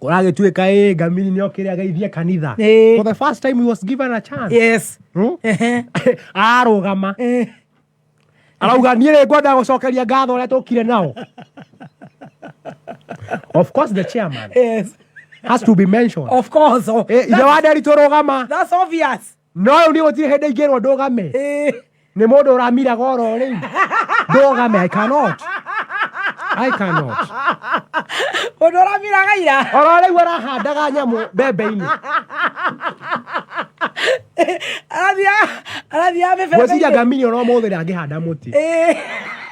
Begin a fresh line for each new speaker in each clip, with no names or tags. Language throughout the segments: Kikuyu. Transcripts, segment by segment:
Kũragĩtuĩka ĩ ngamiri nĩ okĩre ageithie kanitha. Ĩĩ. For the first time he was given a chance. yes Hmm? Ehe. Arũgama. Eh. Arauga niĩ rĩ ngwenda gũcokeria ngatho ũrĩa tũkire nao. Of course the chairman yes has to be mentioned. of course oh, Eh, Ithe wa Nderi tũrũgama. that's obvious No rĩu nĩ gũtirĩ hĩndĩ ingĩrwo ndũgame nĩ mũndũ ũramiraga oro rĩu ndũgame i cannot i cannot Ũndũ ũramiraga ira. oro rĩu arahandaga nyamũ mbembe-inĩ Arathiaga arathiaga mĩbebe. ngwĩciria ngamiri oro mũthĩ ndangĩhanda mũtĩ Ĩĩ.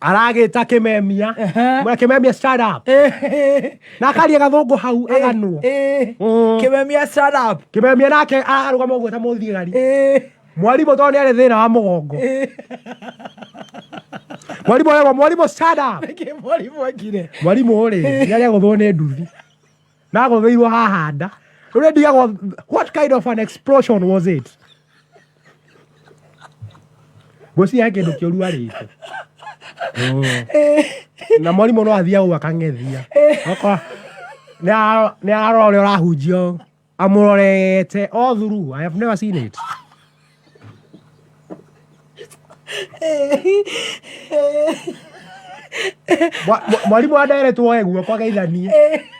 aragĩta kĩmemia Ehe. mwe kĩmemia stand up na akaria gathũngũ hau aganwo Mm. kimemia stand up kĩmemia nake arũgama ũguo ta mũthigari Eh, mwarimũ tondũ nĩ arĩ thĩna wa mũgongo eh. mwarimũ aragwo mwarimũ stand up Nĩkĩ mwarimũ akire mwarimũ rĩ nĩ arĩ agũthwo nĩ nduthi nagogeirwo haha nda rä u nä ndigagwo what kind of an explosion was it ngwĩciria he kĩndũ kĩũru arĩte na mwarimũ no athiaga ũguo akang'ethia Okorwo nĩ ara- nĩ arora ũrĩa ũrahunjia ũũ, amũrorete all through i have never seen it mwarimũ wa ndereti woe guoko ageithanie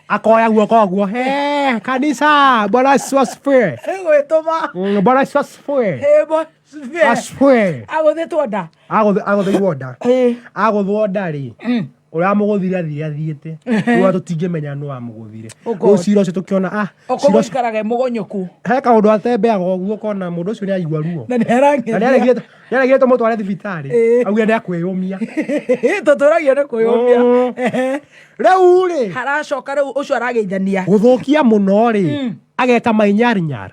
akoya guoko guo he kanisa bwana yesu asifiwe gwĩtũma mm, bwana yesu asifiwe asifiwe agũthĩtwo nda Agũthĩ- agũthĩirwo nda Ĩĩ. agũthwo nda rĩ Mm. ũramũgũthire athire athiĩte rwa tũtingĩmenya nũ wamũgũthire Ũko- rĩu cira ũcio tũkĩona ah cira ũcio- ũkũmũikaraga mũgonyũku he kaũndũ atembeaga ũguo kona mũndũ ũcio nĩ aigua ruo na nĩ na arangenia nĩaregire- nĩaregire tũmũtware thibitarĩ Ĩĩ. augire nĩ akwĩyũmia tũtũragio nĩ kwĩyũmia Mm. Ehe. rĩu rĩ haracoka rĩu ũcio arageithania gũthũkia mũno rĩ ageka mainyarinyara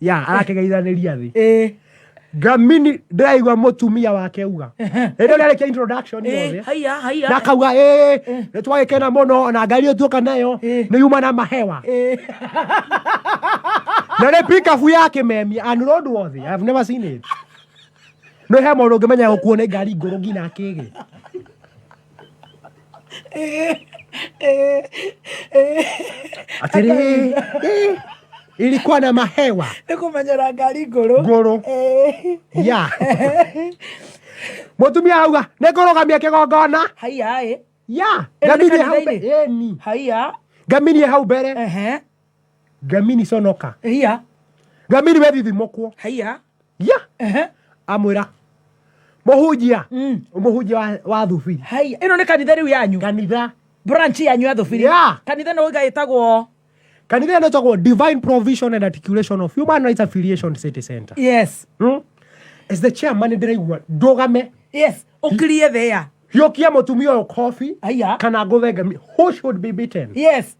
ya arakĩgeithanĩria thĩ eh ngamini ndĩraigua mũtumia wake uga ĩndĩ ũrĩa arĩkia introduction eh yothe haya haya nakauga ĩ nĩ twagĩkena mũno na ngari ũtuoka nayo nĩ yuma na mahewa eh na nĩ pikabu ya kĩmemia and road wothe I've never seen it nĩ he mũndũ ũngĩmenya gũkuo nĩ ngari ngũrũ nginya kĩgĩ atĩrĩ ilikuwa na mahewa nä kå menyera ngari ngå rå ngũrũ ya mũtumia auga nĩ kũrũgamia kĩgongona haiaä ya Ĩno nĩ ngamirie hau kanitha-inĩ? mbere Ĩni. haiya ngamirie hau mbere ehe Gamini conoka. Iya. Gamini we thithi mokwo. Iya. Ya. Ehe. Amwira. Muhunjia. Mm. Muhunjia wa, wa thubiri. Haya. Ino ni kanitha riu yanyu. Kanitha. Branch yanyu ya thubiri. Ya. Kanitha no iga itagwo. Kanitha ino itagwo Divine Provision and Articulation of Human Rights Affiliation City Center. Yes. Hmm? As the chairman ndiraigua ndugame. Yes. Ukirie thea. Hiũkia mũtumia ũyũ kobi kana ngũthe ngami. Who should be beaten? Yes.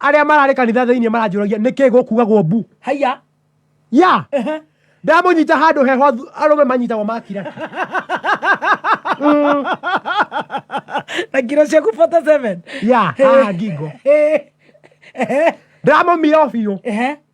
arĩa mararĩ kanitha thĩinĩ maranjũragia nĩkĩ gũkugagwo mbu haiya ya ndamũnyita handũ heho athu- arũme manyitagwo makira Mm, na kiro ciaku 47 ya haha ngingo ndamũmira o biũ Ehe.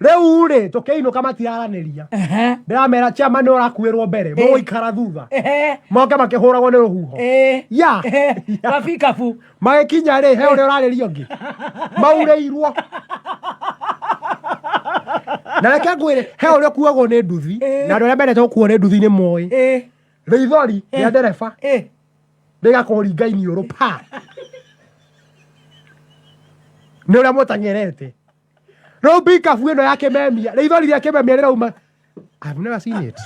riu ri tukiinuka matiraranĩria ndiramera chama ni urakuirwo mbere muguikara thutha moke makihuragwo ni ruhuho ya kabikabu magikinya ri he uria urariria ungi maureirwo na reke ngwire he uria kuagwo ni nduthi na andu aria mendete gukuo ni nduthi ni moi rithori ria ndereba rigakuringa iniuru pa nä å rä a må tang'erete Rĩu mbikabu ĩno ya kĩmemia, rĩithori rĩa kĩmemia rĩrauma. I've never seen it.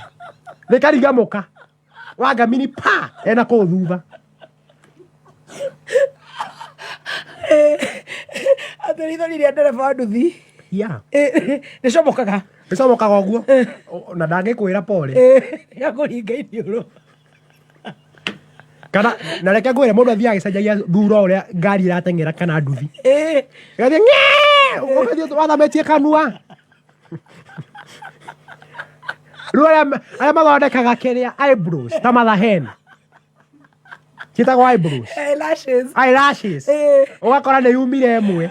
Rĩkarigamũka. Wanga mini pa ena kũu thutha. Atĩ rĩithori rĩa ndereba wa nduthi. Yeah. Eh, Rĩcomokaga. Rĩcomokaga ũguo. Na ndangĩkwĩra pole. Eh, Yakũringa iniũrũ. kana na reke ngwire mundu athiaga agicenjagia thura uria ngari irateng'era kana nduthi gathi ugathi wathametie kanua riu aria mathondekaga kiria eyebrows ta matha hen ciĩtagwo eyebrows eyelashes eyelashes ugakora nĩ yumire ĩmwe